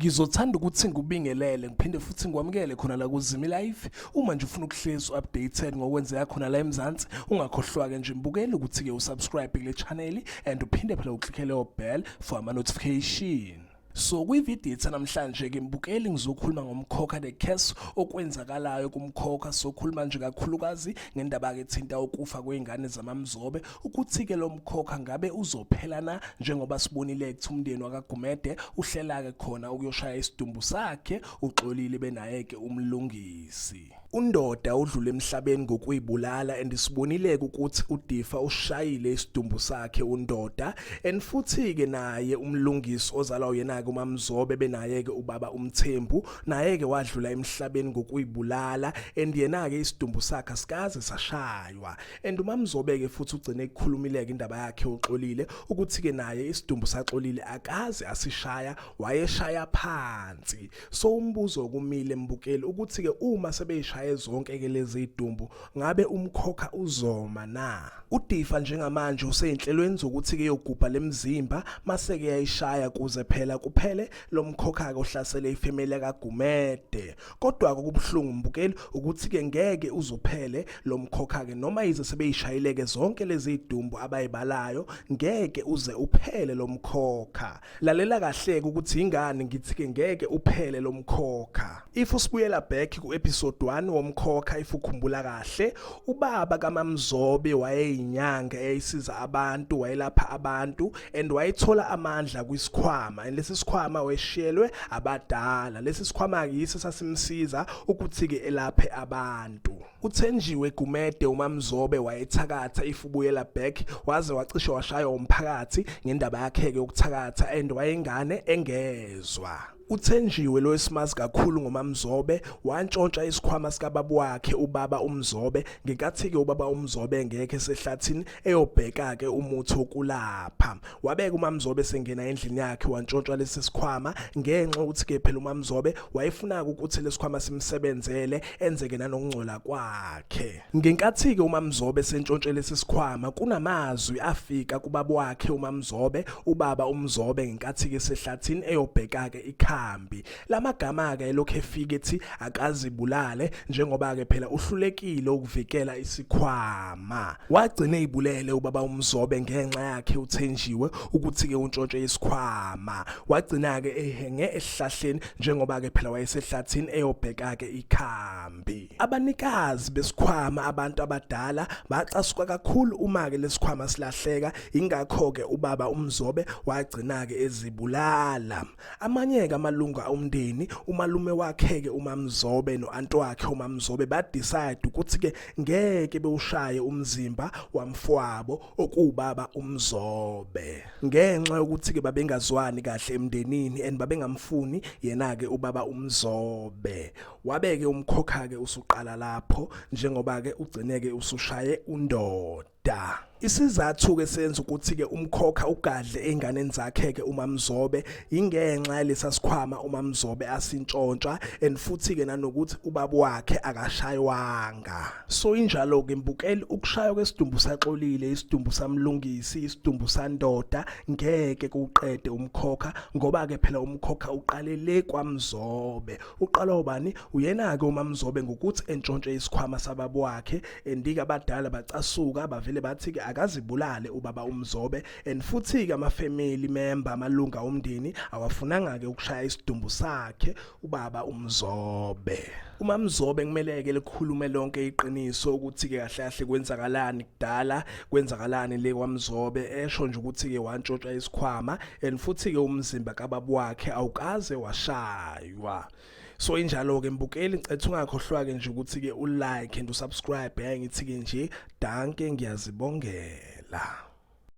Ngizothanda ukuthi ngikubingelele ngiphinde futhi ngikwamukele khona la kuZimi Live. Uma nje ufuna ukuhlezi updated ngokwenzeka khona la eMzansi, ungakhohlwa-ke nje mbukele ukuthi-ke usubscribe kule channel and uphinde phela uclickele o-bell for ama-notification. So kwividiyo ethe namhlanje ke mbukeli ngizokhuluma ngomkhokha the case okwenzakalayo kumkhokha sokhuluma nje kakhulukazi ngendaba ke thinta ukufa kweingane zamamzobe ukuthi ke lomkhokha ngabe uzophela na njengoba sibonile ukuthi umndeni wakagumede uhlela ke khona ukuyoshaya isidumbu sakhe uxolile benaye ke umlungisi Undoda udlule emhlabeni ngokuyibulala and sibonileke ukuthi uDifa ushayile isidumbu sakhe undoda and futhi ke naye umlungisi ozalwa uyena ke uMamzobe benaye ke ubaba uMthembu naye ke wadlula emhlabeni ngokuyibulala and yena ke isidumbu sakhe sikaze sashaywa and uMamzobe ke futhi ugcine ekukhulumileke indaba yakhe uxolile ukuthi ke naye isidumbu saxolile akaze asishaya wayeshaya phansi so umbuzo kumile mbukeli ukuthi ke uma sebeyishaye zonke ke lezi idumbu ngabe umkhokha uzoma na udifa njengamanje useyinhlelweni zokuthi ke yogubha lemzimba mase ke yayishaya kuze phela kuphele lomkhokha ke ohlasele ifamily kaGumede kodwa kokubuhlungu mbukeli ukuthi ke ngeke uzophele lomkhokha ke noma yize sebeyishayileke zonke lezi idumbu abayibalayo ngeke uze uphele lomkhokha Lalela kahleke ukuthi ingani ngithi ke ngeke uphele lomkhokha. If usibuyela back ku episode 1 womkhokha if ukhumbula kahle, ubaba kaMamzobe wayeyinyanga eyisiza abantu, wayelapha abantu and wayethola amandla kwisikhwama. And lesi sikhwama weshiyelwe abadala. Lesi sikhwama ke yiso sasimsiza ukuthi ke elaphe abantu. Uthenjiwe Gumede uMamzobe wayethakatha if ubuyela back waze wacishe washaywa umphakathi ngendaba yakhe ke ukuthakatha and wayengane engezwa uthenjiwe lo esimazi kakhulu ngomamzobe wantshontsha isikhwama sikababa wakhe ubaba umzobe ngenkathi-ke ubaba umzobe engekho esehlathini eyobheka-ke umuthi wokulapha wabeka umamzobe sengena endlini yakhe wantshontshwa lesi sikhwama ngenxa ukuthi ke phela umamzobe wayefuna ukuthi lesikhwama simsebenzele enzeke nanokungcola kwakhe ngenkathi ke umamzobe sentshontshe lesi sikhwama kunamazwi afika kubaba wakhe umamzobe ubaba umzobe ngenkathi ke sehlathini eyobheka ke ikhambi Lamagama-ke elokhu efika ethi akazibulale njengoba-ke phela uhlulekile ukuvikela isikhwama. Wagcina eyibulele ubaba uMzobe ngenxa yakhe uthenjiwe ukuthi-ke untshontshe isikhwama. Wagcina-ke ehenge esihlahleni njengoba-ke phela wayesehlathini eyobheka-ke ikhambi. Abanikazi besikhwama abantu abadala bacasuka kakhulu uma-ke lesikhwama silahleka ingakho-ke ubaba uMzobe wagcina-ke ezibulala. Amanyeke amalungu omndeni umalume wakheke uMamzobe noantwakhe uMamzobe ba decide ukuthi ke ngeke bewushaye umzimba wamfwabo okuwubaba uMzobe ngenxa yokuthi ke babengazwani kahle emndenini and babengamfuni yena ke ubaba uMzobe wabeke umkhokha ke usuqala lapho njengoba ke ugcineke usushaye undoda da Isizathu-ke senza ukuthi-ke umkhokha ugadle ey'nganeni zakhe-ke uMaMzobe yingenxa yalesa sikhwama uMaMzobe asintshontshwa and futhi-ke nanokuthi ubaba wakhe akashaywanga so injalo-ke mbukeli ukushaywa kwesidumbu saxolile isidumbu samlungisi isidumbu sandoda ngeke kuqede umkhokha ngoba-ke phela umkhokha uqale le kwaMzobe uqala ubani uyena-ke uMaMzobe ngokuthi entshontshe isikhwama sababa wakhe endike abadala bacasuka bavele bathi ke akazibulale ubaba umzobe and futhi ke ama family member amalunga omndeni awafunanga ke ukushaya isidumbu sakhe ubaba umzobe uma mzobe kumele ke likhulume lonke iqiniso ukuthi ke kahle kahle kwenzakalani kudala kwenzakalani le kwamzobe esho nje ukuthi ke wantshotsha isikhwama and futhi ke umzimba kababa wakhe awukaze washaywa so injalo ke mbukeli ngicela ungakhohlwa ke nje ukuthi ke u like and u subscribe yaye ngithi ke nje danke ngiyazibongela